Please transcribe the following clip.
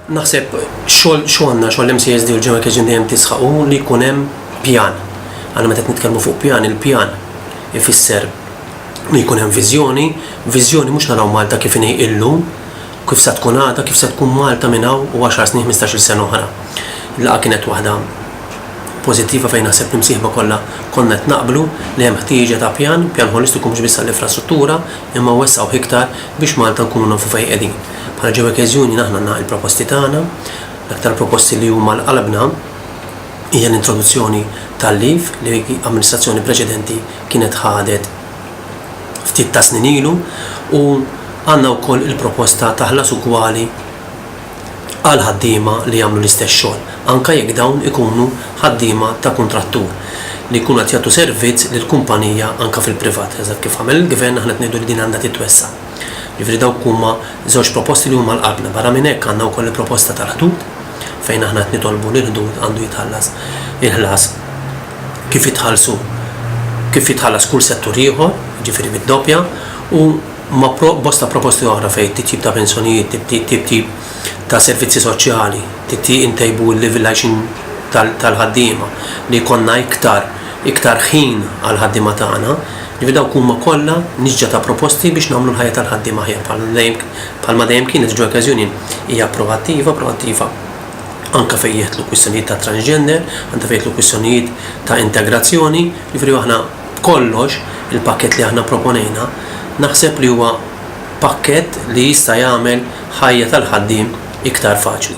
Naħseb xogħol xogħolna xogħol MCSD u l-Ġeneral Kitchen dejjem tisħaqu li jkun hemm pjan. Għana meta nitkellmu fuq pjan, il-pjan ifisser li jkun hemm viżjoni, viżjoni mhux naraw Malta kif inhi illum, kif sa tkun għada, kif sa tkun Malta minn hawn u 10 snin 15-il sena oħra. Laqa kienet waħda pożittiva fejn naħseb l-imsieħba kollha konna qed naqblu li hemm ħtieġa ta' pjan, pjan holistiku mhux biss għall-infrastruttura, imma wessgħuh iktar biex Malta nkunu nafu fejn qegħdin. Bħala Ġewekez Union aħna għandna il-proposti tagħna. L-aktar proposti li huma għal qalbna hija l-introduzzjoni tal-leave li amministrazzjoni preċedenti kienet ħadet ftit tas-snin ilu u għandna wkoll il-proposta ta' ħlas ugwali għal ħaddiema li jagħmlu l-istess xogħol, anke jekk dawn ikunu ħaddiema ta' kuntrattur li jkunu qed jagħtu servizz lil kumpanija anke fil-privat, eżatt kif għamel il-Gvern, aħna qed ngħidu li din għandha titwessa'. Jiġifieri dawk huma żewġ proposti li huma għal qalbna. Barra minn hekk għandna wkoll il-proposta tal-ħdud fejn aħna qed nitolbu li l-ħdud għandu jitħallas il-ħlas kif jitħallsu kif jitħallas kull settur ieħor, jiġifieri bid-doppja, u ma' bosta proposti oħra fejn titjib ta' pensjonijiet, titjib ta' servizzi soċjali, intejbu l-livell għajxin tal-ħaddiema, li jkollna iktar iktar ħin għall-ħaddiema tagħna. Ġifieri dawk huma kollha nisġa ta' proposti biex nagħmlu l-ħajja tal-ħaddiem aħjar bħalma dejjem kienet il-Workers Union hija proattiva, proattiva anke fejn jidħlu kwistjonijiet ta' transgender, anke fejn jidħlu kwistjonijiet ta' integrazzjoni, ġifieri aħna B'kollox, il-pakkett li aħna pproponejna naħseb li huwa pakkett li jista' jagħmel ħajja tal-ħaddiem iktar faċli.